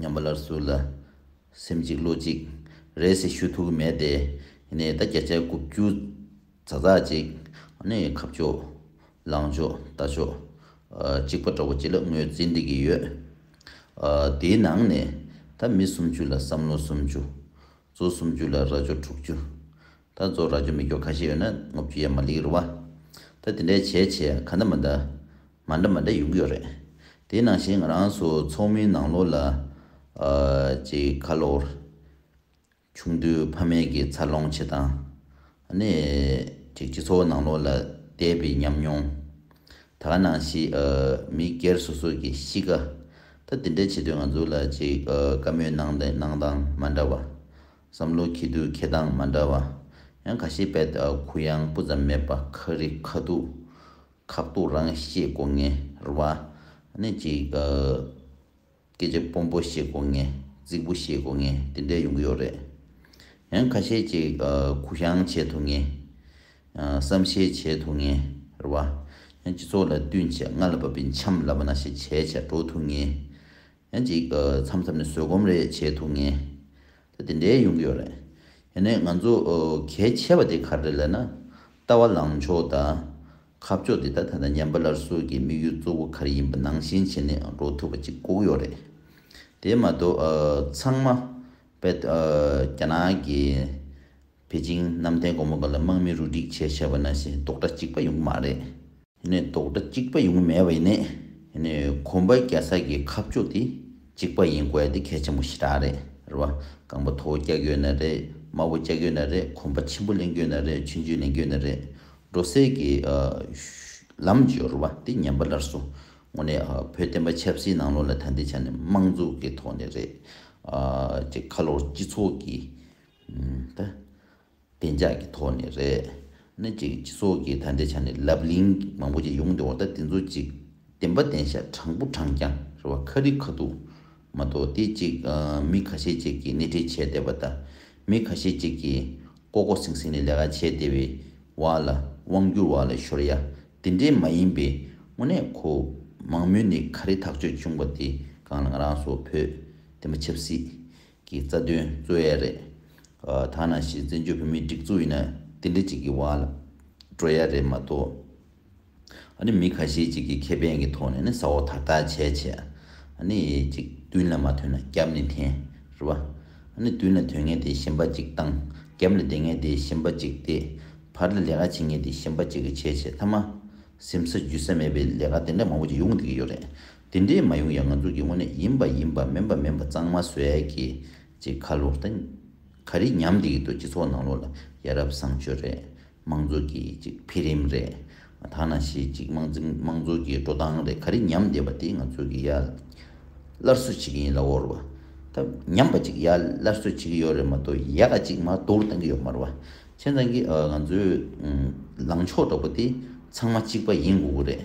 ཉམས་པ་སླར་གསོ་ལ། སེམས་གཅིག་བློ་གཅིག། རེད་ཟེར་ཤུ་ཐུག་གི་མེད་དེ། ད་བརྒྱ་ཆ་དགུ་བཅུ། ཛག་ཛག་ཅིག། ཁ་ཕྱོགས། ལངས་ཕྱོགས་ལྟ་ཕྱོགས། གཅིག་པ་འདྲ་བོ་ཅི་ལ་ངོས་འཛིན་འདེད་ཀྱི་ཡོད། དེའི་ནང་ནས། ད་མི་སུམ་ཅུ་ལ་བསམ་བློ་སུམ་ཅུ། གཙོ་སུམ་ཅུ་ལ་རྭ་ཅོ་དྲུག་ཅུ། ད་རྫོགས་ར་ཅོ་མི་སྐྱོ་ཁ་ཤས་ཡོད་ན་ངོ་བརྒྱུད་ཡ་མ་ལིག་རུ་བ། ད་དེ་འདྲའི་བྱས་བྱས་ཡ་ཁ་འདྲ་མ་འདྲ། མ་འདྲ་མ་འདྲ་ཡོང་གི་ཡོད་རེད། དེ་ནང་བཞིན་ང་རང་ཚོ་ཚོགས་མིའི་ནང་ལོགས་ལ། ཅིག་ཁ་ལོར། ཆུང་དུས་ཕ་མེས་ཀྱི་འཚར་ལོངས་བྱེད་སྟངས། ནས། ཅིག་སྤྱི་ཚོགས་ནང་ལོགས་ལ་བསྡད་པའི་ཉམས་མྱོང། ད་ག་ནང་བཞིན། མི་སྒེར་སོ་སོ་ཀྱི་གཤིས་ཀ། ད་དེ་འདྲའི་བྱེད་དུས་ང་ཚོ་ལ་ཅིག་དཀའ་མོའི་གནང་སྟངས་མ་འདྲ་བ། བསམ་བློ་ཁྱི་དུད་ཁྱི་སྟངས་མ་འདྲ་བ། ཡང་ག་ཤེད་པད་ལྟ་བུ་གུ་ཡངས་སྤུ་ཙམ་མེད་པ་ཁ་རི་ཁ་ཐུག། ཁག་ཐུག་རང་ཤེས་དགོ་ངེར་བ། ནི་ཅིག། སྐད་ཆ་སྤོམ་པོ་ཤེས་དགོ་ངེ་རྫིག་པོ་ཤེས་དགོ་ངེ་དེ་འདྲས་ཡོང་གི་ཡོད་རེད། ཡང་ག་ཤེད་ཅིག་གུ་ཡངས་བྱེད་ཐུག་ངེ། བསམ་ཤེས་བྱེད་ཐུག་ངེར་བ། ཡང་སྤྱི་ཚོགས་ལ་བསྟུན་བྱས་རྔ་ལ་བབས་པའི་འཆམ་ལབ་པ་ན་ཤེས་བྱའི་བྱ་སྒྲོ་ཐུག་ངེ། ཡང་ཅིག་མཚམས་མཚམས་ནས་བཟོད་སྒོམ་རེ་བྱེད་ཐུབ་ངེས། ད་དེ་འདྲའི་ཡོང་གི་ཡོད་རེད། ཡིན་ནའི་ང་ཚོ་གལ་ཆེ་བ་དེ་ག་རེད་ལས་ན། ལྟ་བ་ལངས་ཕྱོགས་དང། ཁ་ཕྱོགས་དེ་དག་ད་ལྟ་ཉམས་པ་སླར་གསོ་གི་དམིགས་ཡུལ་གཙོ་བོ་ག་རེ་ཡིན་པ་ནང་བཞིན་བྱེད་ནས་འགྲོ་ཐུབ་པ་ཅིག་བཀུག་ཡོད་རེད། དེ་མ་གཏོགས་ཚང་མ་དཔལ། རྒྱ་ནག་གི། པེ་ཅིང་གནམ་བསྟན་སྒོ་མོ་འགའ་ལ་དམག་མི་རུ་སྒྲིག་བྱས་བྱས་པ་ན་ཞེས་དོགས་གྲ་གཅིག་པ་ཡོང་གི་མ་རེད། ནི་རྡོག་སྒྲ་གཅིག་པ་ཡོང་གི་མེད་པ་ཡིན། ནི་གོམ་པ་རྒྱ་སར་གྱི་ཁ་ཕྱོགས་དེ་གཅིག་པ་ཡིན་དགོས་དེ་གལ་ཆེན་པོ་ཞེ་དྲག་རེད། རེད་བ། རྐང་པ་མཐོ་བོ་བཀྱག་གྱོད་ན་རེད། དམའ་བོ་བཅག་གྱོད་ན་རེད་གོམ་པ་ཆེན་པོ་གླེང་གྱོད་ན་རེད་ཆུན་ཆུན་གླེང་གྱོད་ན་རེད། འགྲོ་སའི་གི། ལམ་སྦྱོར་བ་དེ་ཉམས་པ་ལར་སོང། ངོ་ནས་བོད་བསྟན་པ་ཆབ་སྲིད་ནང་ལོག་ལ་ད་ལྟའི་ཆ་ནས་དམངས་གཙོ་གི་ཐོག་ནས་རེད། ཁ་ལོར་སྤྱི་ཚོགས་ཀྱི། བདེ་འཇགས་ཀྱི་ཐོག་ནས་རེད། སྣེ་གཅིག་སྤྱི་ཚོགས་ཀྱི་ད་ལྟའི་ཆ་ནས་ལབ་གླིང་མང་པོ་ཅིག་ཡོང་འདུག་བ་ད་དེ་ཚོ་ཅིག་བདེན་པ་བདེན་ཤ་དྲང་པོ་དྲང་རྐྱང་རེད་བ་ཁ་རི་ཁ་ཐུག་མ་གཏོགས་དེ་ཅིག་མི་ཁ་ཤས་ཅིག་གིས་སྣེ་ཁྲིད་བྱས་བསྡད་བ་ད་མི་ཁ་ཤས་ཅིག་གིས་ལྐོག་ལྐོག་སིང་སིང་ནས་ལས་ཀ་བྱས་བསྡད་བའི་བ་ལ་དབང་བསྒྱུར་བ་ལ་ཤོར་ཡ་དེ་འདྲས་མ་ཡིན་པའི་དངོས་གནས་ཁོ་མང་མོས་ནས་ཁ་རི་ཐག་ཆོད་བྱུང་བ་དེ་གང་ལ་ང་རང་སོགས་བོད་བདེན་པ་ཆབ་སྲིད་གི་རྩ་དོན་རྩོད་ཡས་རེད། ཐ་ན་གཞི་བཙན་བྱོལ་བོད་མིའི་སྒྲིག་འཛུགས་ཡིན་ན་དེ་འདྲི་གཅིག་གི་བར་ལ་འགྲོ་ཡས་རེད་མ་གཏོགས། ཨ་ནི་མི་ཁ་ཤས་ཅིག་གི་ཁེ་ཕན་གི་ཐོག་ནས་ནི་ས་འོག་དག་དག་བྱས་བྱས། ཨ་ནི་ཅིག་བདུན་ལ་མ་ཐོན་ན་རྒྱབ་ནས་འཐེན། རེད་པ། ཨ་ནི་བདུན་ལ་ཐོན་ངེས་དེ་ཞིམ་པ་ཅིག་བཏང། རྒྱབ་ལ་བསྡད་ངེས་དེ་ཞིམ་པ་ཅིག་བསྡད། བར་ལ་ལས་ཀ་བྱེད་ངེས་དེ་ཞིམ་པ་ཅིག་བྱས་བྱས་མཐའ་མ། སེམས་ས་རྒྱུད་ས་མེད་པའི་ལས་ཀ་དེ་འདྲ་མང་པོ་ཅིག་ཡོང་བསྡད་ཀྱི་ཡོད་རེད། དེ་འདྲས་མ་ཡོང་ཡང་ང་ཚོ་གི་དངོས་གནས་ཡིན་པ་ཡིན་པ་མིན་པ་མིན་པ་གཙང་མ་བཟོས་ཡ་གི་ཅེས་ཁ་ལོ་ལྟ་ག་རེ་ཉམས་བསྡད་ཀྱི་འདུག་སྤྱི་ཚོགས་ནང་ལོག་ལ་ཡ་རབས་བཟང་སྤྱོད་རེད་དམངས་གཙོ་གི་ཅིག་འཕེལ་རིམ་རེད་ཐ་ན་ཞེ་ཅིག་དམངས་འཛིན་དམངས་གཙོ་གི་འགྲོ་སྟངས་རེད་ག་རེ་ཉམས་བསྡད་པ་དེ་ང་ཚོ་གི་ཡ་སླར་གསོ་བྱེད་ཀྱི་ཡིན་ལ་འོར་བ་ད་ཉམས་པ་ཅིག་ཡ་སླར་གསོ་བྱེད་ཀྱི་ཡོད་རེད་མ་གཏོགས་ཡ་ག་ཅིག་མ་གཏོར་བཏང་གི་ཡོད་མར་བ་ཁྱེད་རང་གི་ང་ཚོའི་ལངས་ཕྱོགས་འདྲ་པོ་དེ་ཚང་མ་གཅིག་པ་ཡིན་དགོས་ཀྱི་རེད།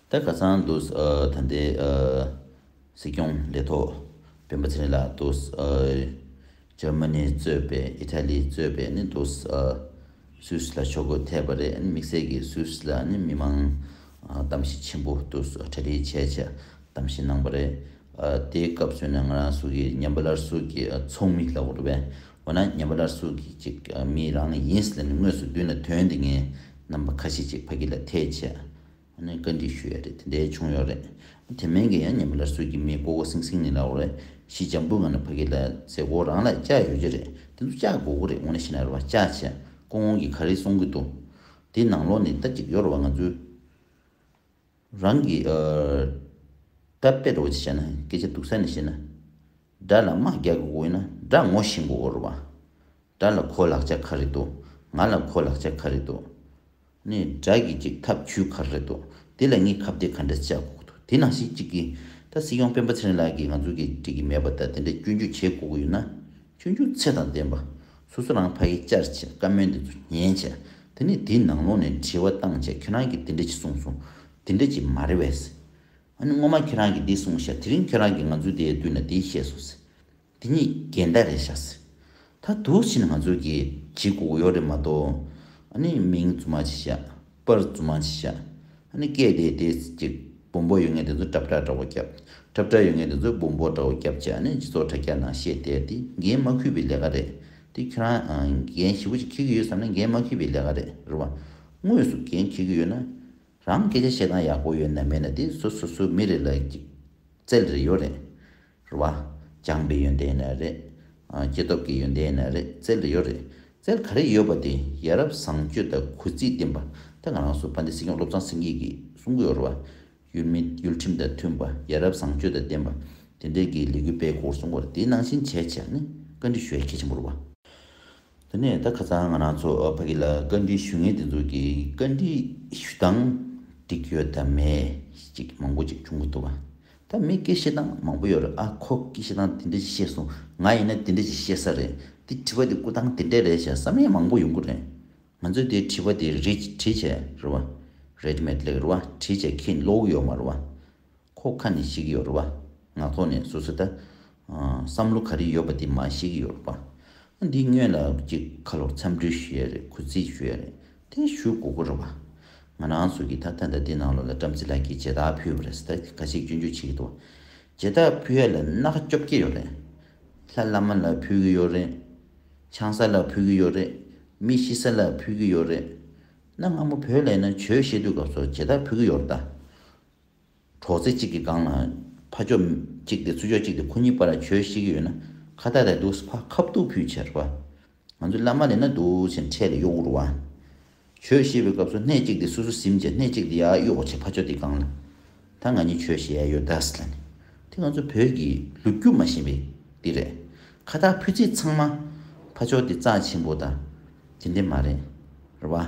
ད་ག་ཚང་འདུག་ད་ལྟའི་སྲིད་སྐྱོང་ལས་ཐོག་སྤེན་པ་ཚེ་རིང་ལགས་འདུག་ཇར་མ་ནི་གཙོས་པའི་ཨི་ཐ་ལི་གཙོས་པའི་ནི་འདུག་སུད་སི་ལ་ཕྱོགས་གོ་ཐལ་བ་རེད་དམིགས་བསལ་གྱི་སུད་སི་ལ་ནི་མི་མང་གཏམ་བཤད་ཆེན་པོ་འདུག་གྲ་སྒྲིག་བྱས་བྱས་གཏམ་བཤད་གནང་བ་རེད་དེའི་སྐབས་སུ་ནི་ང་རང་སུ་གི་ཉན་པ་ལར་སུ་གི་ཚོགས་མི་ལགས་རེད་བས་འོ་ན་ཉན་པ་ལར་སུ་གི་ཅིག་མི་རང་ཡིན་ཟེར་ནས་དངོས་སུ་མདུན་ལ་དོན་དེ་ངའི་རྣམ་པ་ཁ་ཤས་ཅིག་ཕ་གི་ལ་ཐེ་བྱས་ནས་བཀའ་འདྲི་ཞུ་ཡ་རེད་དེ་འད་བྱུང་ཡོག་རེད་དེ་མན་གི་ཡ་ཉན་པ་ལ་སུ་གི་མིས་གོ་གོ་སིང་སིང་ནི་ལ་འོ་ཞིས་ཇམ་བུ་ང་ན་ཕ་གི་ལ་ཟེ་གོ་རང་ལ་ལྕག་ཡོ་གི་རེད་དེ་ཚོ་ལྕག་གོ་གོ་རེད་འོ་ན་ཤི་ན་ར་བ་ལྕག་ཆ་ཀོ་ངོ་གི་ག་རེ་སོང་གི་འདུག་དེ་ནང་ལོག་ནི་ད་ཅིག་ཡོ་ར་བ་ང་ཚོའི་རང་གི་ད་པེ་ར་བ་ཅིག་བྱ་ན་སྐད་ཆ་འདུག་ས་ནི་བྱེད་ན་དགྲ་ལ་དམག་རྒྱག་གི་གོ་ཡོ་ན་དགྲ་ངོ་ཞིང་གོ་གོ་ར་བ་དགྲ་ལ་ཁོ་ལག་ཆ་ག་རེ་འདུག་ང་ལ་ཁོ་ལག་ཆ་ག་རེ་འདུག། ནི་དགྲ་གི་ཅིག་ཐབས་ཇུས་ག་རེ་འདུག་དེ་ལ་ངས་ཁ་བརྡའི་ག་འདྲ་བྱ་དགོས་འདུག་དེ་ནང་བཞིན་ཅིག་གི། ད་སྲིད་སྐྱོང་སྤེན་པ་ཚེ་རིང་ལགས་ཀྱིས་ང་ཚོ་གི་འགྲིག་གི་མེད་པ་ད་དེ་འདྲ་སྐྱོན་བརྗོད་བྱེད་དགོས་ཀྱི་ཡོད་ན། སྐྱོན་བརྗོད་ཚད་དང་ལྡན་པ། སོ་སོ་རང་ཕ་ཡིས་བཅར་བྱས་བཀའ་མོལ་འདི་ཚོ་ཉན་བྱས་དེ་ནས་དེའི་ནང་ལོག་ནས་དྲི་བ་བཏང་བྱས་ཁྱེད་རང་གིས་དེ་འདྲ་ཅིག་གསུངས་སོང་དེ་འདྲ་ཅིག་མ་རེད་བས། ཨ་ནི་སྔོན་མ་ཁྱེད་རང་གིས་འདི་གསུངས་བྱས་དེ་རིང་ཁྱེད་རང་གིས་ང་ཚོའི་དེའི་དུས་ན་དེ་བཤད་སོང་ཟེར། དེ་གཉིས་ཀའི་འདྲ་རེད་ཤག་སེ། ད་དུག་ཕྱིན་ང་ཚོ་གི་གྱི་གོག་གཡོག་རེད་མ་གཏོགས་ཨ་ནི་མིང་རྫུན་མ་ཅིག་བཞག་པར་རྫུན་མ་ཅིག་བཞག་ཨ་ནི་སྐད་དེ་དེ་གཅིག་བུམ་པོ་ཡོད་ངེས་དེ་ཚོ་གྲབ་གྲ་འདྲ་བོ་བརྒྱབ་གྲབ་གྲ་ཡོད་ངེས་དེ་ཚོ་བུམ་པོ་འདྲ་བོ་བརྒྱབ་བྱས་ཨ་ནི་སྤྱི་ཚོགས་དྲ་རྒྱ་ནང་བཤད་དེ་དེ་འགན་མ་ཁུས་པའི་ལས་ཀ་རེད་དེ་ཁྱོད་རང་འགན་ཞེ་བོ་ཅིག་འཁྱེར་གྱི་ཡོད་བསམ་ན་འགན་མ་ཁུས་པའི་ལས་ཀ་རེད་རེད་བ། དངོས་སུ་འགན་འཁྱེར་གྱི་ཡོད་ན་རང་སྐད་ཆ་བཤད་སྟངས་ཡག་པོ་ཡོད་ན་མེད་ན་དེ་སོ་སོ་སོའི་མི་རེ་ལ་གཅིག་བཙལ་རེ་ཡོད་རེད། རེད་བ། བྱམས་པའི་ཡོན་ཏན་ནི་རེད། སྐྱེ་སྟོབས་ཀྱི་ཡོན་ཏན་ནི་རེད་རྩལ་ལ་ཡོད་རེད། རྩལ་ག་རེ་ཡོད་པ་དེ་ཡ་རབས་བཟང་སྤྱོད་དང་གུས་བརྩི་བསྟེན་པ་དེ་ང་རང་སུ་བྷ་འདི་སྲིད་སྐྱོང་བློ་བཟང་སེང་གེ་གིས་གསུང་གི་ཡོད་རེད་བ། ཡུལ་མི་ཡུལ་ཁྲིམས་དང་མཐུན་པ་ཡ་རབས་བཟང་སྤྱོད་དང་ལྡན་པ་དེ་འདྲའི་གི་ལས་འགུལ་སྤེལ་དགོས་གསུང་བར་དེ་ནང་བཞིན་བྱས་བྱས་ནི་བཀའ་འདྲི་ཞུ་ཡ་གལ་ཆེན་པོ་རེད་བ། དེ་ནས་ད་ཁ་ཚང་ང་རང་ཚོ་བྷ་གི་ལ་བཀའ་འདྲི་ཞུ་ངེས་དེ་ཚོ་གི་བཀའ་འདྲི་ཞུ་སྟངས་འགྲིག་ཡོད་དམ་མེད་ཅིག་མང་པོ་ཅིག་བྱུང་གི་འདུག་བ། ད་མི་སྐད་བཤད་སྟངས་མང་པོ་ཡོད་རེད་ཨ་ཁོ་སྐད་བཤད་སྟངས་དེ་འདྲ་ཅིག་བཤད་སོང་ང་ཡིན་ན་དེ་འདྲ་ཅིག་བཤད་ས་རེད་དེ་དྲི་བ་དེ་བཀོད་སྟངས་དེ་འདྲ་རེད་བྱས་ས་མི་མང་པོ་ཡོང་གི་རེད་ང་ཚོས་དེ་དྲི་བ་དེ་རེད་དྲིས་བྱས་རེད་བ་རེད་མེད་ལེགས་རེད་བ་དྲིས་བྱས་ཁྱེད་བློ་བུག་ཡོད་མ་རེད་བ་ཁོ་ཁ་ནས་བཤད་ཀྱི་ཡོད་རེད་བ་ངག་ཐོག་ནས་སོ་སོས་ད་བསམ་བློ་ག་རེ་ཡོད་པ་དེ་མ་ཤེས་ཀྱི་ཡོད་པ། འདི་སྔོན་ལ་གཅིག་ཁ་ལོར་འཚམས་འདྲི་ཞུས་ཡས་རེད་གུས་བརྩི་ཞུས་ཡས་རེད་དེ་ཞུ་དགོ་གོ་རེད་བ། ང་རང་ཚོ་གི་ད་ལྟ་འདི་ནང་ལོ་ལ་བྲམ་ཟེ་ལགས་ཀྱིས་བྱེ་ད་ཕུལ་བ་རེད་ཟེ་ད་གི་ག་ཞིག་སྐྱོན་བརྗོད་བྱེད་ཀྱི་འདུག་བ། བྱེ་ད་ཕུལ་ཡས་ལ་སྣ་ཁ་བཅོ་བརྒྱད་ཡོད་རེད། ལྷ་བླ་མ་ལ་ཕུལ་གྱི་ཡོད་རེད། ཆང་ས་ལ་ཕུལ་གྱི་ཡོད་རེད། མི་ཤི་ས་ལ་ཕུལ་གྱི་ཡོད་རེད། གནའ་སྔ་མོ་བོད་ལས་ན་བྱོས་བཤད་དུས་སྐབས་སུ་བྱེ་ད་ཕུལ་གྱི་ཡོད་རེད་ད། གྲོགས་ཚེ་གཅིག་གི་སྒང་ལ་ཕ་ཅོག་གཅིག་སྟེ་ཚུ་ཅོག་གཅིག་སྟེ་ཁོ་གཉིས་པར་གྱོད་ཤིག་ཡོད་ན་ཁ་ཐག་རེད་འདུག་ཕ་ཁ་བཏུབ་ཕུད་ཆེར་བ། ང་ཚོའི་བླ་མ་ལས་ན་འདུག་ཅེས་འཕྲལ་ལ་གཡོག་འུར་བ། གྱོད་བཤད་པའི་སྐབས་སུ་སྣེ་གཅིག་སྟེ་སུ་སུ་ཟིམ་བྱས་སྣེ་གཅིག་སྟེ་ཡར་གཡོག་བྱས་ཕ་ཅོག་དེའི་སྒང་ལ་ད་ང་གཉིས་གྱོད་བཤད་ཡ་ཡོད་ད་ཟེར་ལ་ནི་དེ་ང་ཚོ་བོད་ཀྱི་ལུག་རྒྱུ་མ་ཞེན་པའི་དེ་རེད། ཁ་ཐག་ཕུད་ཚེ་ཚང་མ་ཕ་ཅོག་དེ་རྩ་ཆེན་པོ་ད་དེ་འདྲས་མ་རེད་རེད་བ།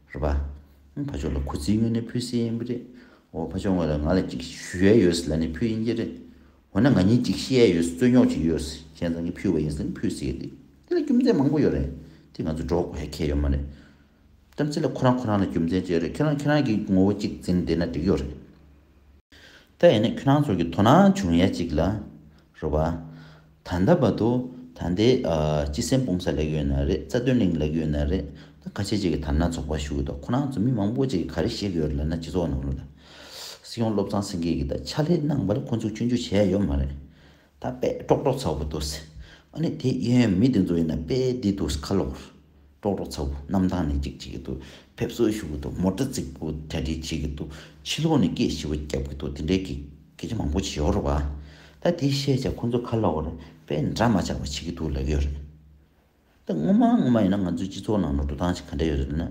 རེད་པ། ཕ་ཆོག་ལ་ཁུ་ཚིག་དངོས་ནས་ཕུད་སྲིད་ཡིན་གྱི་རེད། འོ་ཕ་ཆོག་ངོས་ལ་ང་ལ་ཅིག་ཞུ་ཡས་ཡོད་སྲིད་ལ་ནི་ཕུད་ཡིན་གྱི་རེད། འོ་ན་ང་གཉིས་ཅིག་ཤི་ཡས་ཡོད་སྲིད་རྩོད་རྙོག་ཅིག་ཡོད་སྲིད་ཁྱེད་ཚང་གིས་ཕུད་བ་ཡིན་སྲིད་ནི་ཕུད་སྲིད་གྱི་རེད། དེ་ལ་རྒྱུ་མཚན་མང་པོ་ཡོད་རེད། དེ་ང་ཚོས་སྒྲོག་དགོས་ཧ་གལ་ཡོད་མ་རེད། རྒྱུ་མཚན་ལ་ཁོ་རང་ཁོ་རང་ལ་རྒྱུ་མཚན་བཅས་རེད་ཁྱེད་རང་ཁྱེད་རང་གི་ངོ་བོ་ཅིག་འཛིན་བསྡད་ན་འགྲིག་ཡོད་རེད། ད་ཡིན་ན་ཁྱེད་རང་ཚོར་གྱི་དོ་སྣང་བྱུང་ཡས་ཅིག་ལ། རེད་པ། ད་ལྟ་བར་དུ་ད་ལྟའི་སྤྱི་སེམས་སྤུངས་ས་ལེགས་ཡོད་ན་རེད་རྩ་དོན་གླིང་ལེགས་ཡོད་ན་རེད་ད་ཁ་ཆེ་གཅིག་གི་དར་ནག་ཚོགས་པ་ཞུ་གི་འདུག་ཁོ་རང་ཚོ་མི་མང་པོ་གཅིག་གིས་ག་རེ་བཤད་གི་ཡོད་རེད་ལབ་ན་སྤྱི་ཚོགས་ནང་ལ་སྲིད་སྐྱོང་བློ་བཟང་སེང་གེ་གིས་ད་ཕྱག་ལས་གནང་བར་ཁོ་ཚོ་སྐྱོན་བརྗོད་བྱས་ཡོད་མ་རེད་ད་དཔེ་ཀྲོག་ཀྲོག་ཚ་བོ་འདུག་སེ་ཨ་ནི་དེ་ཡིན་ཡང་མི་དེ་ཚོ་ཡིན་ན་དཔེ་འདི་འདུག་ཁ་ལོག་རེད། ཀྲོག་ཀྲོག་ཚ་བོ་གནམ་ཐང་ནས་ཅིག་བྱེད་ཀྱི་འདུག་ཕེབས་བསུ་ཞུ་གི་འདུག་མོ་ཏྲ་རྫིག་པོ་དྲ་སྦྲེལ་བྱེད་ཀྱི་འདུག་ཕྱི་ལོགས་ནས་སྐད་ཞི་བ་རྒྱབ་ཀྱི་འདུག་དེ་འདྲའི་སྐད་ཆ་མང་པོ་བྱེད་ཡོད་རེད་བ། ད་དེ་བཤད་བྱ་ཁོ་ཚོ་ཁ་ལོག་རེད་པས་འདྲ་མ་ཆགས་པ་བྱེད་ཀྱི་འདུག་ལབ་ཡོད་རེད། ད་སྔོན་མ་སྔོན་མ་ཡིན་ན་ང་ཚོའི་སྤྱི་ཚོགས་ནང་ལ་འགྲོ་སྟངས་ཤིག་ག་འདྲ་ཡོད་རེད་ན།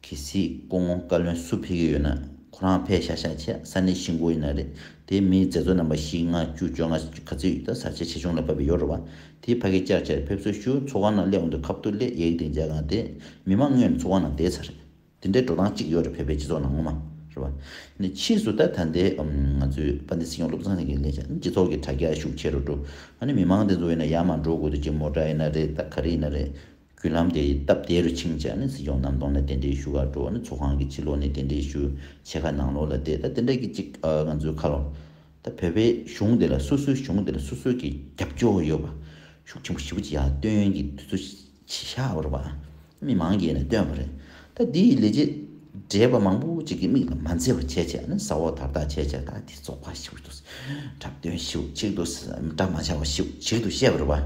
གལ་སྲིད་སྐུ་ངོ་བཀའ་བློན་སུ་ཕེབས་ཀྱི་ཡོད་ན་ཁོ་རང་ཕེབས་ཤག་ཤག་བྱས་ས་ནི་ཤིང་སྒོ་ཡིན་ན་རེད་དེ་མིའི་མཛད་གཙོ་རྣམ་པ་བཞི་ལྔ་བཅུ་བཅོ་ལྔ་ག་ཚོད་ཡོད་ད་ས་ཆ་ཆེ་ཆུང་ལ་བབས་པའི་ཡོ་རོ་བ་དེའི་ཕ་གི་སྐྱག་ཆར་ཕེབས་བསུ་ཞུ་ཚོགས་ཁང་ནང་སླེབས་འོང་དུས་ཁ་བཏུ་ལེ་ཡེག་དེ་མཇལ་གང་དེ་མི་མང་དངོས་ནས་ཚོགས་ཁང་ནང་བསྡད་ཚར་རེད་དེ་འདྲའི་འགྲོ་སྟངས་གཅིག་ཡོད་རེད་བོད་པའི་སྤྱི་ཚོགས་ནང་ངོ་མ་རེད་བ་ནི་ཕྱིས་སུ་ད་ད་ལྟའི་ང་ཚོའི་པ་འདི་སྲིད་སྐྱོང་བློ་བཟང་སེང་གེ་ལས་ཤག་སྤྱི་ཚོགས་ཀྱི་དྲ་རྒྱ་ཤུགས་ཆེ་རུ་འགྲོ་ཨ་ནི་མི་མང་དེ་ཚོ་ཡིན་ན་ཡར་མར་འགྲོ་དགོས་དུས་ཅི་མོ་འདྲ་ཡིན་ན་རེད་ད་ག་རེ་ཡིན་ན་རེད། བརྒྱུད་ལམ་དེ་ཡི་སྟབས་བདེ་རུ་ཕྱིན་བྱས་ནས་སྲིད་སྐྱོང་གནམ་སྟོང་ལ་དེ་འདྲའི་ཞུ་ཁ་སྤྲོ་བ་ནི་ཚོགས་ཁང་གི་ཕྱི་ལོགས་ནས་དེ་འདྲའི་ཞུ་ཆེ་ཁ་ནང་ལོགས་ལ་བལྟས་ད་དེ་འདྲ་གི་ཅིག་ང་ཚོའི་ཁ་ལོ། ད་བོད་པའི་གཞུང་དེ་ལ་སོ་སོའི་གཞུང་དེ་ལ་སོ་སོའི་གི་རྒྱབ་སྐྱོར་ཡོད་པ་ཤུགས་ཆེན་པོ་ཞི་བུ་ཅི་ཡག་སྟོན་གི་དུས་ཚོད་ཆི་ཤ་བོར་བ་མི་མང་གིས་ནས་སྟོན་བ་རེད་ད་འདི་ཡི་ལས་བྱེད་བགྲེས་པ་མང་པོ་ཅིག་གི་མིག་ལ་མ་མཛེས་བ་བྱས་བྱས་ནས་ས་འོག་དར་ཐག་ཆད་བྱས་ད་དེ་ཚོགས་པ་ཞིག་ཏུ་གྲབས་སྟོན་ཞིག་ཏུ་གྲབས་མ་བྱ་བ་ཞིག་ཏུ་བཤད་བོར་བ།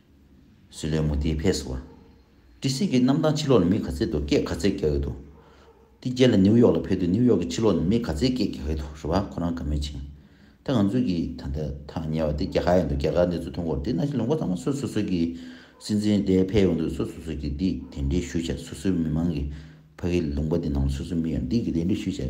བཟོད་ལས་མུ་ཏིག་ཕས་བསུ་བ། ཏི་སེ་གི་གནམ་ཐང་ཕྱི་ལོགས་ལ་མི་ག་ཚད་དུ་སྐད་ག་ཚད་རྒྱག་གི་འདུག་ཏི་རྒྱལ་ལ་ནིའུ་ཡོག་ལ་ཕེབས་དུས་ནིའུ་ཡོག་གི་ཕྱི་ལོགས་ལ་མི་ག་ཚད་སྐད་རྒྱག་གི་འདུག་རེད་བ་ཁོ་རང་ག་མེད་ཅིང། ད་ང་ཚོས་གི་ད་ལྟ་ཐག་ཉེ་བ་དེ་རྒྱ་གར་ཡང་འདུག་རྒྱ་གར་གནས་ཚུལ་ཐོན་འགོར་དེ་གནའ་ཤུལ་ལུང་པ་ཚང་མ་སུ་སུ་སུ་གི་སྲིད་འཛིན་དེ་ཕེབས་ཡོང་དུས་སུ་སུ་སུ་གི་འདི་དེ་འདྲའི་ཞུ་བྱ་སུ་སུའི་མི་མང་གི་ཕ་གི་ལུང་པ་དེ་ནང་ལ་སུ་སུ་མི་ཡོང་འདི་གི་དེ་འདྲའི་ཞུ་བྱ་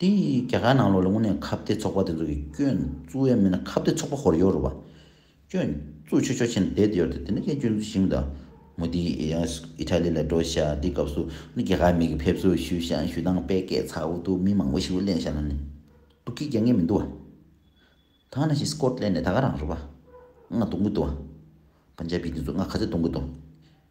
དེ་ཡིས་རྒྱ་གར་ནང་ལོག་ལ་དངོས་གནས་ཁ་བརྡའི་ཚོགས་པ་དེ་ཚོ་གི་སྐྱོན་བཙུགས་ཡས་མེད་ན་ཁ་བརྡའི་ཚོགས་པ་ཧོར་ཡོད་རུ་བ། སྐྱོན་བཙུགས་ཆོས་ཕྱོགས་ཆེན་ལ་བསྡད་དེ་ཡོད་རེད་དེ་ནི་ཀྱང་སྐྱོན་བཙུགས་ཞིང་དང། མོ་དི་ཡིས Italy ལ་འགྲོ་ཤག་དེའི་སྐབས་སུ་ནི་རྒྱ་གར་མིག་གི་ཕེབས་བསུ་ཞུས་ཤག་ཞུས་དང་པད་སྐད་ཚ་བོ་དུ་མི་མང་བོ་ཞིག་ལ་གླེང་ཤག་ལ་ནི་སྡུག་གི་རྒྱ་ངན་མི་འདུག་བ། ཐང་ན་ཞིག Scotland ནས་ད་ག་རང་རུ་བ། ང་གཏོང་གི་འདུག་བ། Punjabi དེ་ཚོ་ང་ག་ཚད་གཏོང་གི་འདུག།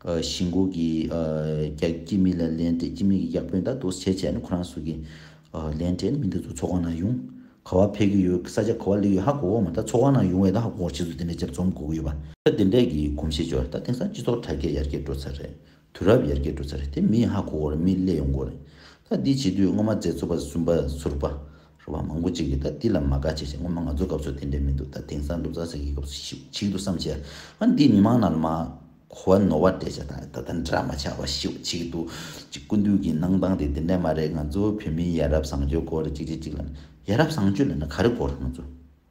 གཞིས་མགོ་གི་རྒྱ་སྐྱེད་མི་ལ་ལན་སྤྲད་ཀྱི་མི་གི་ཡག་པོའི་ཟླ་དུ་བྱས་བྱས་ནི་ཁོ་རང་སུ་གི་ལན་སྤྲད་ནི་མི་འདི་ཚོ་ཚོགས་ཁང་ན་ཡོང་ག་བ་ཕེབས་ཀྱི་ཡོད་ས་ཆ་ག་བ་ལེགས་ཡོད་ཧ་གོ་གོ་མ་ད་ཚོགས་ཁང་ན་ཡོང་བས་ད་ཧ་གོ་གོ་ཕྱིས་སུ་དེ་འདྲའི་ལྗབ་རྩོམ་གོ་གི་ཡོད་པ། ད་དེ་འདྲས་ཀྱི་གོམས་གཤིས་འབྱོར་ད་དེང་སང་སྤྱི་ཚོགས་དྲ་རྒྱ་ཡར་རྒྱས་འགྲོ་ཚར་རེད་དུས་རབས་ཡར་རྒྱས་འགྲོ་ཚར་རེད་དེ་མི་ཧ་གོ་གོ་རེད་མི་ཀླད་ཡོང་གོ་རེད་ད་འདི་བྱེད་དུས་སྔོན་མ་མཛད་ཚོ་པ་ཟུན་པ་ཟུར་པ་རུ་བ་མང་པོ་གཅིག་གིས་ད་འདི་ལ་མ་དགའ་བྱས་བྱས་ངོ་མ་ང་ཚོའི་སྐབས་སུ་དེ་འདྲས་མི་འདུག་ད་དེང་སང་ལུག་ཟ་ཟ་གི་སྐབས་སུ་ཞིག་ཆིག་འདུག་བསམ་བྱས་ང་འདིས་མི་མང་ནང་ལ་མ་གོ་བ་ནོར་བ་འགྲེལ་བྱས་དང་ད་ལྟ་འདྲ་མ་ཆགས་པ་ཞིག་ཆིག་འདུག་ཅིག་ཀུན་འདུས་ཀྱི་གནང་སྟངས་དེ་དེ་འདྲས་མ་རེད་ང་ཚོ་བོད་མིའི་ཡ་རབས་བཟང་སྤྱོད་སྐོར་ལ་ཅིག་བྱས་ཅིག་ལབ་ན་ཡ་རབས་བཟང་སྤྱོད་ལབ་ན་ག་རེ་དགོས་རེད་ང་ཚོ།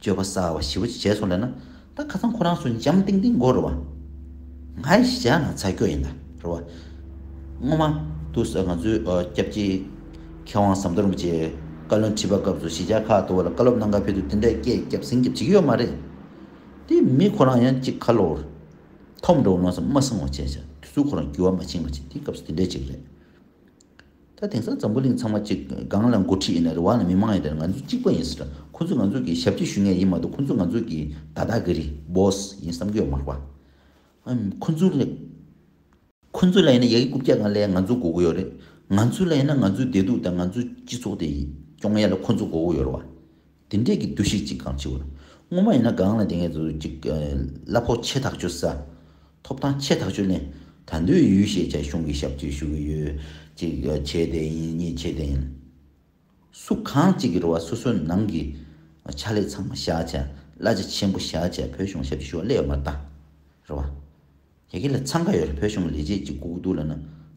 སྤྱོད་པ་སྲ་བ་བཞི་བོ་བྱས་སོང་ལེ་ན་ད་ཁ་ཚང་ཁོ་རང་སུ་འཇམ་ཏིང་ཏིང་གོ་རུ་བ། ང་ཡི་གཞི་ཆགས་ན་ཚ་སྐྱོ་ཡིན་ད་རུ་བ། སྔོན་མ་དུ་ང་ཚོའི་སྐྱབས་རྗེ་མཁས་དབང་ཟམ་གདོང་རིན་པོ་ཆེ་བཀའ་བློན་ཁྲི་པ་སྐབས་སུ་གཞི་ཆགས་ཁག་ཏུ་བ་ལ་བཀའ་སློབ་གནང་སྐབས་ཕེབས་དུས་དེ་འདྲའི་སྐད་སྐྱབས་སེང་སྐྱབས་བྱེད་ཀྱི་ཡོད་མ་རེད། དེ་མི་ཁོ་རང་ཡང་གཅིག་ཁ་ལོ་བར་ཐོབ་འགྲོ་བ་ནོར་ས་མ་སྲིང་བ་བྱས་ཤག་དུས་ཚོད་ཁོ་རང་རྒྱུ་བ་མ་ཕྱིན་པ་ཅིག་དེ་སྐབས་སུ་དེ་འདྲའི་ཅིག་རེད། ད་དེང་སང་འཛམ་བུ་གླིང་ཚང་མ་གཅིག་གང་ལ་འགོ་ཁྲིད་ཡིན་ན་རེ་བ་ལ་མི་མང་ཡིན་ད་ང་ཚོ་གཅིག་པ་ཡིན་ཟེར་ཁོ་ཚོས་ང་ཚོ་གི་ཞབས་ཕྱི་ཞུ་ངེས་ཡིན་མ་གཏོགས་ཁོ་ཚོ་ང་ཚོ་གི་ད་ད་གི་རི Boss ཡིན་བསམ་གི་ཡོད་མ་རེད་པ། ཁོ་ཚོ་ལ་ཁོ་ཚོ་ལ་ཡིན་ན་ཡ་གི་རྐུབ་བཀྱག་གང་ལས་ང་ཚོ་འགོ་གི་ཡོད་རེད། ང་ཚོ་ལ་ཡིན་ན་ང་ཚོའི་བདེ་སྡུག་དང་ང་ཚོའི་སྤྱི་ཚོགས་དེ་སྐྱོང་ཡ་ལ་ཁོ་ཚོ་འགོ་གི་ཡོད་རེད་བ། དེ་འདྲས་ཀྱི་འདུ་ཤེས་ཅིག་གང་ཆེ་བར། སྔོན་མ་ཡིན་ན་སྒང་ལ་དེ་སྔའི་དུས་ཀྱི་གླ་ཕོགས་ཆེ་ཐག་ཆོད་ས། ཐོབ་ཐང་ཆེ་ཐག་ཆོད་ནས། ད་འདོད་ཡུལ་ཞེས་བྱ་གཞུང་གི་ཞབས་ཀྱིས་ཞུ་གི་ཡོད། གཅིག་བྱས་དེ་ཡིན་གཉིས་བྱས་དེ་ཡིན། སུ་གང་གཅིག་གི་རུ་བ་སོ་སོའི་ནང་གི། ཕྱག་ལས་ཚང་མ་བཞག་བྱ། གླ་ཆ་ཆེན་པོ་བཞག་བྱ་བོད་གཞུང་ཞབས་ཀྱིས་ཞུ་བ་གླས་ཡོད་མ་རྟ། རུ་བ། ཁྱེད་ཀྱི་ལ་འཚང་ཁ་ཡོད་རེད་བོད་གཞུང་ལས་བྱེད་ཅིག་སྒུག་གི་འདུག་ལ་ན་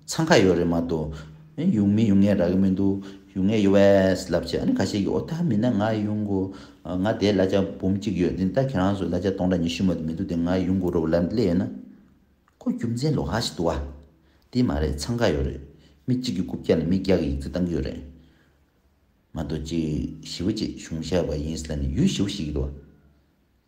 འཚང་ཁ་ཡོད་རེད་མ་གཏོགས་གཡུག་མི་གཡུག་ངས་རག་གི་མི་འདུག་གཡུག་ངས་གཡུག་བས་ལབ་བྱས་ཨ་ནི་ག་ཤེད་ཀྱི་འོ་ད་མིན་ན་ང་གཡུག་མགོ་ང་དེའི་གླ་ཆ་འབུམ་གཅིག་ཡོད་འདི་ལྟ་ཁྱེད་རང་ཚོས་གླ་ཆ་སྟོང་ཕྲག་ཉི་ཤུ་མ་དེ་མི་འདུག་དེ་ང་གཡུག་མགོ་རོགས་ལབ་སླད་ཡོད་ན། ཁོ་རྒྱུ་མཚན་ལོག་ཧ་ཞིག་འདུག་ཨ། དེ་མ་རེད་འཚང་ཁ་ཡོད་རེད་མི་གཅིག་གི་རྐུབ་བཀྱག་ལ་མི་བརྒྱ་གི་ཡིག་རྩིས་བཏང་གི་ཡོད་རེད་མ་གཏོགས་ཅིག་ཞི་བ་ཅིག་གཞུང་ཞབས་པ་ཡིན་ས་ལ་ནི་ཡུལ་ཞི་བ་ཞིག་གི་འདུག་ཨ།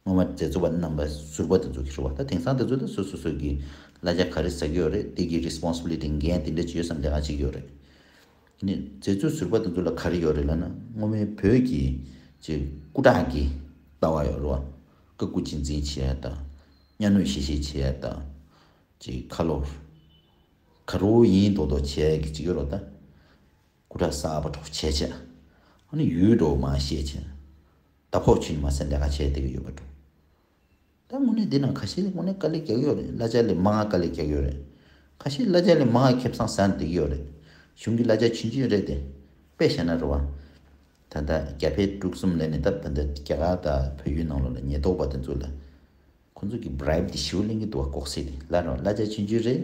སྔོན་མ་མཛད་གཙོ་བ་རྣམ་པ་ཟུར་པ་དེ་ཚོ་གིས་རེད་བ་ད་དེང་སང་དེ་ཚོ་ལ་སོ་སོ་སོ་གིས་གླ་རྒྱ་ག་རེ་ཟ་གི་ཡོད་རེད་དེ་གི Responsibility འགན་དེ་འདྲ་ཅིག་ཡོད་བསམ་ལེ་ག་ཅིག་ཡོད་རེད། ནས་མཛད་གཙོ་ཟུར་པ་དེ་ཚོ་ལ་ག་རེ་ཡོད་རེད་ལ་ན་སྔོན་མའི་བོད་ཀྱི་ཅེ་སྐུ་དྲག་གི་ལྟ་བ་ཡོད་རེད་བ་ཀ་སྐུ་གཅེས་འཛིན་བྱེད་ཡ་ད་གཉའ་གནོད་ཤེས་ཤེས་བྱེད་ཡ་ད་ཅེ་ཁ་ལོ་ཁ་རོ་ཡིན་མདོག་མདོག་བྱེད་ཡ་གི་ཅིག་ཡོད་རོ་ད། སྐུ་དྲག་གསར་པ་འཕྲོག་བྱེད་ཅེས། ཨ་ནི་ཡུལ་གྲོགས་མ་ཤེས་ཅན། ད་ཕོག་ཆུ་ནི་མ་ཟད་འདྲ་ཁ་བྱས་དེ་ག་ཡོད་པ་འདྲོ། ད་དངོས་གནས་འདི་ན་ཁ་ཤས་དངོས་གནས་དཀའ་ལས་རྒྱག་ཡོད་རེད་གླ་ཆ་ལས་མ་ང་དཀའ་ལས་རྒྱག་ཡོད་རེད། ཁ་ཤས་གླ་ཆ་ལས་མ་ང་ཁེབས་སང་ཟ་འདེགས་ཡོད་རེད། གཞུང་གི་གླ་ཆ་ཆུན་ཆུན་རེད་དེ། དཔེ་བཤད་ན་རེ་བ། ད་ལྟ་རྒྱ་བལ་འབྲུག་གསུམ་ལས་ནས་ད་ཕན་ད་རྒྱ་གར་དང་བོད་ཡུལ་ནང་ལོག་ལ་ཉེས་རྟོག་པ་དེ་ཚོ་ལ། ཁོ་ཚོ་གི་བར་ཡིབ་དེ་ཞིའུ་གླེང་གི་འདུག་བ་ལྐོག་སེ་དེ་གླ་རེ་བ་གླ་ཆ་ཆུན་ཆུན་རེད།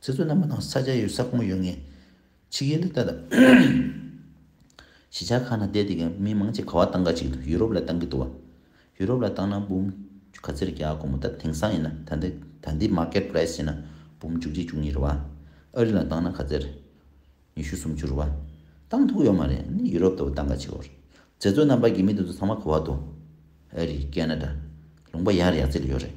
ཚེ་བཙོན་རྣམས་པ་དང་ས་སྐྱ་ཡོད་ས་ཁོངས་ཡོད་ངེས། ཕྱི་རྒྱལ་ལས་བལྟ། གཞིས་ཆགས་ཁག་ན་བསྡད་དེ་གནས་མི་མང་ཆེ་ག་བ་ཏང་ཀ་ཅིག་འདུག་ཡུ་རོབ་ལ་ཏང་གི་འདུག་བ། ཡུ་རོབ་ལ་ཏང་ནང་འབུམ། ག་ཚེར་བརྒྱ་དགོས་མོ་ད་དེང་སང་ཡིན་ན་ད་འདི་ད་འདི market price ཡིན་ན་འབུམ་བཅུ་གཅིག་བཅུ་གཉིས་རེད་བ། ཨ་རི་ལ་ཏང་ན་ག་ཚེར། ཉི་ཤུ་སུམ་བཅུ་རེད་བ། ཏང་ཐུག་ཡོད་མ་རེད་ནི་ཡུ་རོབ་ལྟ་བུ་ཏང་ཀ་ཅིག་བར། ཚེ་བཙོན་རྣམས་པ་གི་མི་འདི་ཚོ་ཚང་མ་ག་བ་འདུག། ཨ་རི། ཀན་ན་ད། ལུང་པ་ཡར་ཡར་ཚེ་ལ་ཡོད་རེད།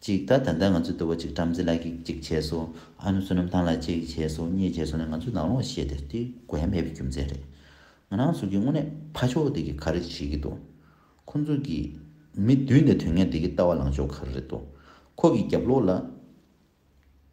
ཅིག་ད་ད་ད་ང་ཚོས་འདུལ་བ་ཅིག་བྲམ་ཟེ་ལགས་ཀྱིས་ཅིག་བྱས་སོ། ཨ་ནུ་བསོད་ནམས་ཐང་ལགས་ཅིག་བྱས་སོ་གཉིས་བྱས་སོ་ནས་ང་ཚོས་ལང་ལོང་བཤད་དེ་དེ་དགོས་མེད་པའི་རྒྱུ་མཚན་རེད། ང་རང་ཚོ་གིས་དངོས་གནས་ཕ་ཕྱོགས་འདི་གི་ག་རེ་བྱེད་ཀྱི་འདུག་ཁོ་ཚོ་གིས་མི་བསྡུས་ནས་དུས་ངན་འདི་གི་ལྟ་བ་ལང་ཕྱོགས་ག་རེ་རེད་འདུག་ཁོ་གིས་རྒྱབ་ལོག་ལ།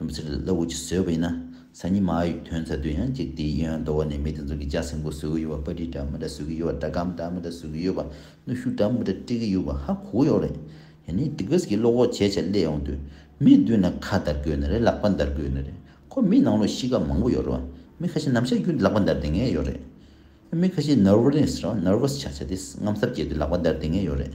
སྡོམ་ཚིག་ལ་ལུགས་ཀྱིས་བཟོས་པ་ཡིན་ན་སང་ཉིན་མ་ཡི་དོན་མཛད་དུས་ཡང་གཅིག་དེའི་གཡོན་རྡོ་བ་ནས་མི་དེ་ཚོ་གི་ལྕགས་སྲིན་པོ་བཟོས་གི་ཡོད་པ་པ་ཏྲི་འདྲ་མི་འདྲ་བཟོས་གི་ཡོད་པ་སྒྲ་སྒམ་འདྲ་མི་འདྲ་བཟོས་གི་ཡོད་པ་གནོད་ཤུགས་འདྲ་མི་འདྲ་སྤྲད་གི་ཡོད་པ་ཧ་གོ་གི་ཡོད་རེད། ཡང་ནི་སྡིག་པས་ཀྱི་བློ་ཁོག་བྱས་བྱས་སླེ་ཡོང་དུས་མི་བསྡུས་ན་ཁ་འདར་གི་ཡོད་ནི་རེད་ལག་པ་འདར་གི་ཡོད་ནི་རེད་ཁོ་མི་ནང་ལོགས་གཤིས་ཀ་མང་པོ་ཡོད་རེད་བ་མི་ཁ་ཤས་ནམ་ཤར་རྒྱུ་ལག་པ་འདར་དེ་ངེས་ཡོད་རེད། མི་ཁ་ཤས Nervous རེད་བ Nervous ཆགས་ཆགས་དེ་རྔམ་ཟབ་བྱས་དུས་ལག་པ་འདར་དེ་ངེས་ཡོད་རེད།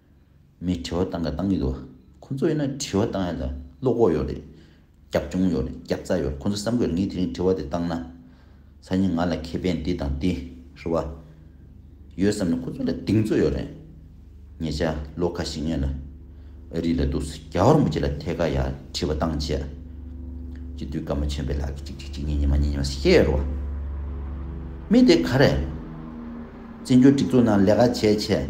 མི་དྲི་བ་བཏང་ག་བཏང་གི་འདུག་ཁོང་ཚོ་ཡིན་ན་དྲི་བ་བཏང་ཡ་ལ་བློ་ཁོག་ཡོད་རེད། རྒྱབ་ལྗོངས་ཡོད་རེད་རྒྱབ་རྩ་ཡོད་རེད་ཁོང་ཚོ་བསམ་དགོས་རེད་ངས་དེ་རིང་དྲི་བ་དེ་བཏང་ན། སང་ཉིན་ང་ལ་ཁེ་ཕན་འདི་དང་འདི་རེད་བ། ཡོད་བསམ་ནས་ཁོང་ཚོ་ལ་གདེང་ཚོད་ཡོད་རེད། ངེད་ཅག་ལོ་ཁ་ཞིག་ངེད་ལ་ཨ་རི་ལ་འདུག་ས་རྒྱ་ཧོར་མོ་ཅིག་ལ་ཐད་ཀ་ཡ་དྲི་བ་བཏང་བྱས། སྤྱི་འཐུས་སྐར་མ་ཆོན་པའི་ལགས་ཀྱི་གཅིག་གཅིག་གཅིག་གཉིས་གཉིས་མ་གཉིས་གཉིས་མ་ས་སྐྱ་ཡོད་རེད་བ། མི་དེ་ག་རེད། བཙན་བྱོལ་སྒྲིག་འཛུགས་ནང་ལས་ཀ་བྱས་བྱས།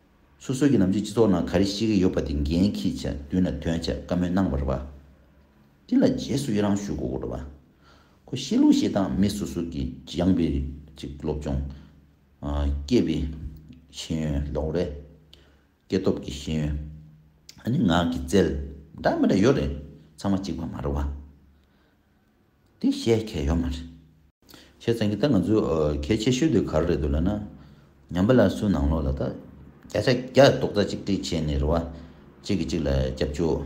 སོ་སོའི་གི་ནམ་རྒྱུན་སྤྱི་ཚོགས་ནང་ག་རེ་བཤད་གི་ཡོད་པ་དེ་འགན་ཁྱེད་ཅག་མདུན་ལ་དོན་བྱ་དཀའ་མོད་གནང་བར་བ། དེ་ལ་རྗེས་སུ་ཡི་རང་ཞུ་གོ་བར་བ། ཁོ་བཤད་ལུགས་བཤད་སྟངས་མི་སོ་སོ་གི་སྦྱངས་པའི་རིགས་གཅིག་སློབ་སྦྱོང། སྐྱེས་པའི་ཤེས་ཡོན་ལོག་རེས། སྐྱེས་སྟོབས་ཀྱི་ཤེས་ཡོན། ཨ་ནི་ངག་གི་རྩལ། འདྲ་མི་འདྲ་ཡོད་རེད་ཚང་མ་གཅིག་པ་མ་རེད་བ། དེ་བཤད་མཁན་ཡོད་མ་རེད། བཤད་ཙང་གི་ད་ང་ཚོའི་གལ་ཆེ་ཤོས་དེ་ག་རེ་རེད་འདུག་ལ་ན། ཉམས་པ་ལ་སུ་ནང་ལོགས་ལ་ད་བརྒྱ་ཆ་བརྒྱ་རྡོག་རྩ་གཅིག་སྒྲིལ་བྱས་ནས་རེ་བ་གཅིག་གིས་གཅིག་ལ་རྒྱབ་སྐྱོར་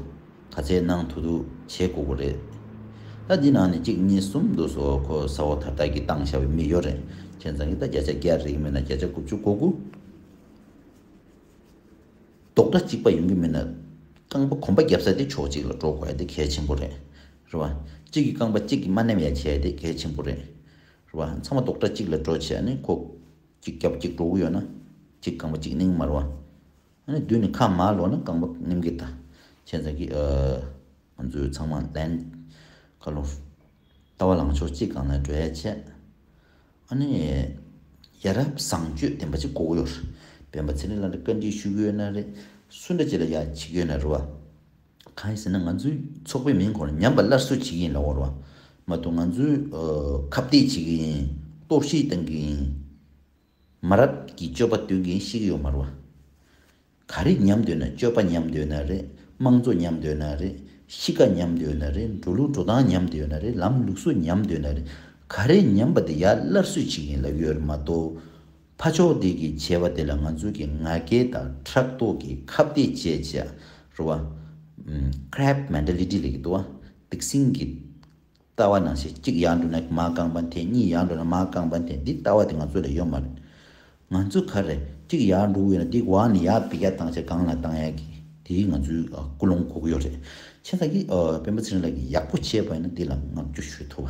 ག་ཚད་གནང་ཐུབ་ཐུབ་བྱེད་དགོས་དགོས་རེད། ད་འདི་ནང་ནས་གཅིག་གཉིས་གསུམ་འདུག་སོ་ཁོ་ས་འོག་ཐར་ཐག་གི་བཏང་ཤ་བའི་མི་ཡོད་རེད་བཤད་ཙང་གི་ད་བརྒྱ་ཆ་བརྒྱ་རེག་མིན་ན་བརྒྱ་ཆ་དགུ་བཅུ་གོ་དགུ་རྡོག་རྩ་གཅིག་པ་ཡོང་གི་མིན་ན་རྐང་པ་གོམ་པ་རྒྱབ་ས་དེ་ཕྱོགས་གཅིག་ལ་འགྲོ་དགོས་ཡ་དེ་གལ་ཆེན་པོ་རེད། རེད་བ། གཅིག་གིས་རྐང་པ་གཅིག་གིས་མ་མནན་ཡ་བྱས་དེ་གལ་ཆེན་པོ་རེད། རེད་བ། ཚང་མ་རྡོག་སྒྲ་གཅིག་ལ་འགྲོ་བྱས་ནི་ཁོག། གཅིག་རྒྱབ་གཅིག་གྲོགས་ཡོད་ན། གཅིག་རྐང་པ་གཅིག་སྣིང་མ་རེད་བ། ཨ་ནི་དུས་ནི་ཁ་མ་ལོ་ན་རྐང་པ་སྣིམ་གི་ད། ཁྱེད་ཚང་གི། ང་ཚོའི་ཚང་མ་ལན། ཁ་ལོ། ལྟ་བ་ལངས་ཕྱོགས་གཅིག་གང་ལ་འགྲོ་ཡ་བྱས། ཨ་ནི། ཡ་རབ་བཟང་སྤྱོད་ལྡན་པ་གཅིག་གོ་གི་ཡོད་རེད། སྤེན་པ་ཚེ་རིང་ལགས་ལ་བཀའ་འདྲི་ཞུ་གི་ཡོད་ན་རེད། སུ་འདྲ་གཅིག་ལ་ཡ་བྱེད་ཀྱི་ཡོད་ན་རེད་བ། གང་ཡིན་ཟེར་ན་ང་ཚོའི་ཚོགས་པའི་མིང་གོང་ལ་ཉམས་པ་སླར་གསོ་བྱེད་ཀྱི་ཡིན་ལ་བོར་བ་མ་གཏོགས་ང་ཚོས་ཁ་བརྡས་བྱེད་ཀྱི་ཡིན་གཏོར་བཤིག་གཏང་གི་ཡིན། མ་རབས་ཀྱི་སྤྱོད་པ་སྟོན་མཁན་ཤིག་ཡོད་མ་རུང་བ། ག་རེ་ཉམས་འདོད་ན་སྤྱོད་པ་ཉམས་འདོད་ན་རེད་དམངས་གཙོ་ཉམས་འདོད་ན་རེད་གཤིས་ཀ་ཉམས་འདོད་ན་རེད་འགྲོ་ལུགས་འགྲོ་སྟངས་ཉམས་འདོད་ན་རེད་ལམ་ལུགས་སོགས་ཉམས་འདོད་ན་རེད་ག་རེ་ཉམས་པ་དེ་ཡར་སླར་གསོས་བྱེད་ཀྱི་ཡིན་ལ་ཡོད་མ་གཏོགས་ཕ་མཆོག་བདེ་སྐྱིད་བྱ་བ་དེ་ལ་ང་ཚོ་གི་ང་རྒྱལ་དང་ཕྲག་དོག་གི་ཁ་བརྡའི་བཅད་བྱ་རུ་བ། Crab Mentality། ལས་ཀྱི་དུ་བ་སྡིག་སྲིན་གྱི་ལྟ་བ་ནང་ཞེ་གཅིག་ཡར་འགྲོ་ན་མ་རྐང་པ་འཐེན་གཉིས་ཡར་འགྲོ་ན་མ་རྐང་པ་འཐེན་འདི་ལྟ་བ་དེ་ང་ཚོ་ལ་ཡོད་མ་རེད། ང་ཚོ་ག་རེ་གཅིག་ཡར་འགྲོ་གི་ཡོད་ན་འདི་བར་ནས་ཡར་བེད་སྐྱ་བཏང་ཆ་སྒང་ལ་བཏང་ཡག་གི་དེ་ང་ཚོའི་ཀུན་སློང་གོ་གི་ཡོད་རེད། ཁྱེད་ལགས་ཀྱིས་དཔོན་པོ་ཚེ་རིང་ལགས་ཀྱིས་ཡག་པོ་བཤད་པ་ཡིན་ན་འདི་ལ་བསྔགས་བརྗོད་ཞུ་ཐུབ།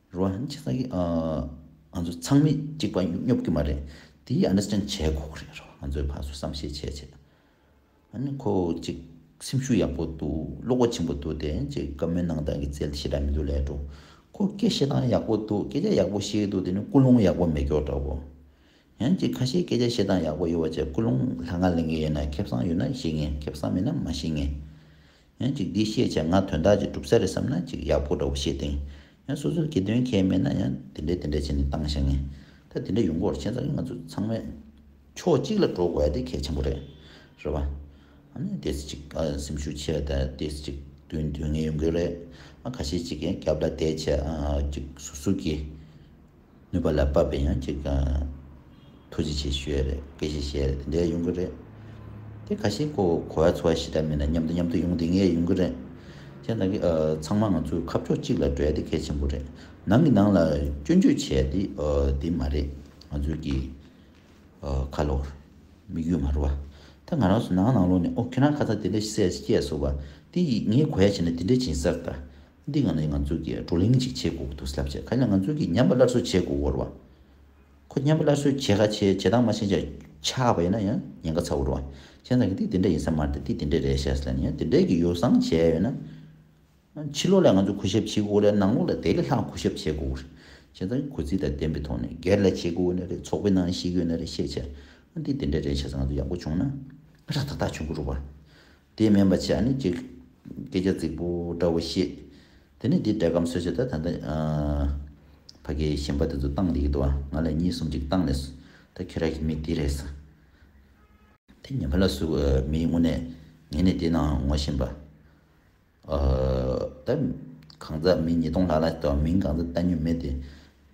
རོ་ཧན་གྷྱ་ང་གིས་ང་ཚོ་ཚང་མི་གཅིག་པ་སྙོབ་རྒྱུ་མ་རེད་དེ understand བྱས་དགོས་ཀྱི་རེད་རོ་ང་ཚོའི་བར་སུ་བསམ་ཤེས་བྱས་བྱས་ཨ་ནི་ཁོ་གཅིག་སེམས་ཤུགས་ཡག་པོ་འདུག་བློ་སྒོ་ཆེན་པོ་འདུག་དེ་གཅིག་བཀའ་མོལ་གནང་སྟངས་ཀྱི་རྩལ་ཞེ་དྲག་མི་འདུག་ལས་འགྲོ་ཁོ་སྐད་བཤད་སྟངས་ཡག་པོ་འདུག་སྐད་ཆ་ཡག་པོ་བཤད་ཀྱི་འདུག་དེ་ནི་ཀུན་སློང་ཡག་པོ་མེད་མགྱོགས་འདྲ་བོ་ཡང་གཅིག་ཁ་ཤས་སྐད་ཆ་བཤད་སྟངས་ཡག་པོ་ཡོད་བ་བཅས་ཀུན་སློང་ལྷ་ང་ལེན་གྱི་ཡོད་ན་ཁེབས་སང་ཡོད་ན་བཤད་ངེས་ཁེབས་སང་མེད་ན་མ་བཤད་ངེས་ཡང་ཅིག་འདིའི་ཤེས་བྱ་ང་དོན་དག་ཅིག་གྲུབ་ས་རེད་བསམ་ན་ཅིག་ཡག་པོ་འདྲ་བོ་ཤེས་ཏེང། ཡང་སོ་སོར་གྱིས་དོན་ཁྱད་མེད་ན་ཡང་དེ་འདྲའི་དེ་འདྲ་བྱས་ནས་བཏང་བཞག་ངེས། ད་དེ་འདྲ་ཡོང་སྐོར་ཁྱེད་ཚང་གི་ང་ཚོ་ཚང་མས་ཕྱོགས་གཅིག་ལ་འགྲོ་དགོས་དེ་གལ་ཆེན་པོ་རེད། རེད་བ། ཨ་ནི་དེ་སྲིད་ཅིག་ཨ་སེམས་ཤུགས་ཆེ་བས་ད་དེ་སྲིད་ཅིག་དུས་དུས་ངེས་ཡོང་གི་རེད། ཨ་ཁ་ཤས་ཅིག་གིས་རྒྱབ་ལ་དེད་བྱས་ཨ་ཅིག་ཟུར་ཟུར་གྱིས། ནུས་པ་ལ་དཔག་པའི་ཡང་ཅིག་ཐུགས་རྗེ་ཆེ་ཞུ་ཡས་རེད་དགེ་བཤེས་ཞེས་དེ་འདྲའི་ཡོང་གི་རེད་དེ་ཁ་ཤས་ཀོ་གོ་བ་ཚོ་བ་ཞི་དྲག་མིན་ན་མཉམ་དུ་མཉམ་དུ་ཡོང་དེ་ངས་ཡོང་གི་རེད་ཁྱེད་རྣམ་གིས་ཚང་མ་ང་ཚོའི་ཁ་ཕྱོགས་གཅིག་ལ་བསྒྲོལ་དེ་གལ་ཆེན་པོ་རེད་ནང་གི་ནང་ལ་སྐྱོན་བརྗོད་བྱས་དེ་དེ་མ་རེད་ང་ཚོའི་གི་ཁ་ལོར་དམིགས་ཡུལ་མ་རུ་བ་ད་ང་རང་སུ་ནང་ནང་ལོག་ནས་ཨོ་ཁྱེད་རང་ཁ་ཚ་དེ་འདྲ་བཤད་སྐད་སོགས་བ་དེ་ཡིས་ངས་གོ་ཡ་བྱས་ན་དེ་འདྲ་བྱིན་སར་ད་འདི་ང་ནི་ང་ཚོ་གིས་བགྲོ་གླེང་ཅིག་བྱེད་དགོས་ཀྱི་འདུག་ཟབ་ཆ་ག་ལ་ང་ཚོ་གིས་ཉམས་པ་སླར་གསོ་བྱེད་དགོས་འོར་བ། ཁོ་ཉམས་པ་སླར་གསོ་བྱེད་ག་བྱེད་བྱེད་སྟངས་མ་ཤེས་ཅག་ཆགས་པ་ཡིན་ན་ཡང་ཉེན་ཁ་ཚ་འོར་བ། ཁྱེད་རང་གིས་འདི་འདི་འདྲ་ཡིན་ས་མར་འདི་འདི་འདི་འདྲ་རེད་བཤད་སླ་ནི་ཡང་འདི་འདྲ་གི་ཡོ་བསྲང་བྱས་ཡོད་ན། ཕྱི་ལོགས་ལ་ང་ཚོ་གུས་ཞབས་བྱེད་དགོས་ལ་ནང་ལོགས་ལ་དེ་ལས་ལྷག་གུས་ཞབས་བྱེད་དགོས་འོར། ཁྱེད་རང་གིས་གུས་བརྩི་དང་བདེན་པའི་ཐོག་ནས་སྒེར་ལ་བྱེད་དགོས་འོ་ན་རེད་ཚོགས་པའི་ནང་ཞིག་ཡོད་ན་རེད་བཤད་བྱ་འདི་འདི་འདྲ་རེད་བྱས་ས་ང་ཚོ་ཡག་པོ་བྱུང་ན་ར་ཐག་ཐག་བྱུང་གི་རུ་བ། དེས་སྨན་པ་ཆེ་ཨ་ནི་ཀྱེ། སྐད་ཆ་རྫིག་པོ་འདྲ་བོ་བཤད། དེ་ནས་དེས་བྲེད་སྐམ་སོད་བྱེད་ད་ད་ནི། ཕ་གི་ཞེན་པ་དེ་ཚོ་བཏང་འདི་ཡི་དུ་ང་ལ་གཉིས་གསུམ་ཅིག་བཏང་ནས་སུ། ད་ཁྱེད་ར་གི་མི་དེ་རེད་ས། དེ་ངན་པ་ལ་སུ་མི་དངོས་གནས་ངན་ནས་དེ་ན་ངོ་བཞིན་པ། ད། གང་ཟག་མི་ཉིས་སྟོང་ལྷག་ལ་ད་མིང་གང་ཟག་བཏགས་ཉོས་མེད་དེ།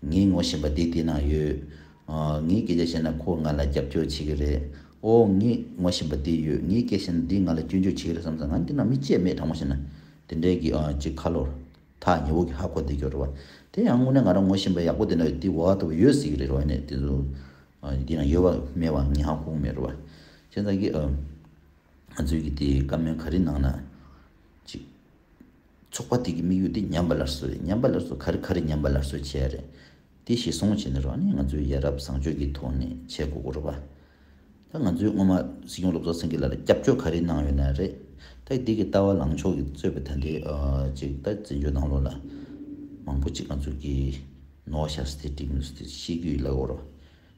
ངས་ངོ་ཤེས་པ་དེ་དེ་ན་ཡོད། ངས་སྐད་ཆ་བཤད་ན་ཁོ་ང་ལ་རྒྱབ་སྐྱོར་བྱེད་ཀྱི་རེད། ཨོ། ངས་ངོ་ཤེས་པ་དེ་ཡོད། ངས་སྐད་བཤད་ན་འདིས་ང་ལ་སྐྱོན་བརྗོད་བྱེད་ཀྱི་རེད་བསམ་ས་ང་འདི་ན་མི་སྐྱེས་མེད་དྲང་མོ་བཤད་ན། དེ་འདྲའི་གི་ཅི་ཁ་ལོ། ཐག་ཉེ་བོ་གི་ཧ་གོ་དེ་སྐྱོ་རེད་བ། དེ་ཡང་དངོས་གནས་ང་རང་ངོ་ཤེས་པ་ཡག་པོ་དེ་ན་ཡོད་དེ་བ་ལྟ་བུ་ཡོད་སྲིད་ཀྱི་རེད་རེད་བ་ནས་དེ་ཚོ། འདི་ན་ཡོད་བ་མེད་བ་ངས་ཧ་གོ་གི་མེད་རེད་བ། ཁྱེད་ཅག་གིས། ང་ཚོའི་གི་དེ་བཀའ་མོལ་ག་རེ་གནང་ན། ཅི། ཚོགས་པ་དེ་གི་དམིགས་ཡུལ་དེ་ཉམས་པ་སླར་གསོ་རེད་ཉམས་པ་སླར་གསོ་ག་རེ་ག་རེ་ཉམས་པ་སླར་གསོ་བྱས་རེད་དེ་ཞེས་གསུངས་བྱས་ནས་རང་ཉིད་ང་ཚོའི་ཡ་རབས་བཟང་སྤྱོད་ཀྱི་ཐོག་ནས་བྱས་དགོས་སྐོར་རོ། ད་ང་ཚོའི་སྔོན་མ་སྲིད་སྐྱོང་སློབ་གཙོ་སེང་གེ་ལ་ལ་སྐྱབས་བཅོལ་ག་རེ་གནང་ཡོད་ན་རེད་ད་འདི་གི་ལྟ་བ་ལངས་ཕྱོགས་ཀྱི་རྩོད་པ་ད་འདི་ཅིག་ད་བཙན་བྱོལ་ནང་ལོགས་ལ་མང་པོ་ཅིག་ང་ཚོ་གི་ནོར་བཤགས་སི་ཏེ་བྲིས་མི་འདུག་སི་ཏེ་ཤེས་རྒྱུ་ཡིད་ལ་དགོས་རོ།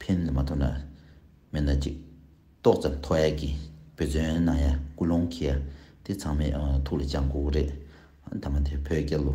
ཕན་མ་ཐོགས་ན་མེད་ན་ཅིག། ཏོག་ཙམ་མཐོ་ཡ་གི་བུ་བརྫུན་ན་ཡ་ཀུན་སློང་གི་ཡ་དེ་ཚང་མས་ཐུགས་ལ་བཅང་དགོས་རེད། ཨ་མཐའ་མ་དེ་བོད་རྒྱལ་ལོ།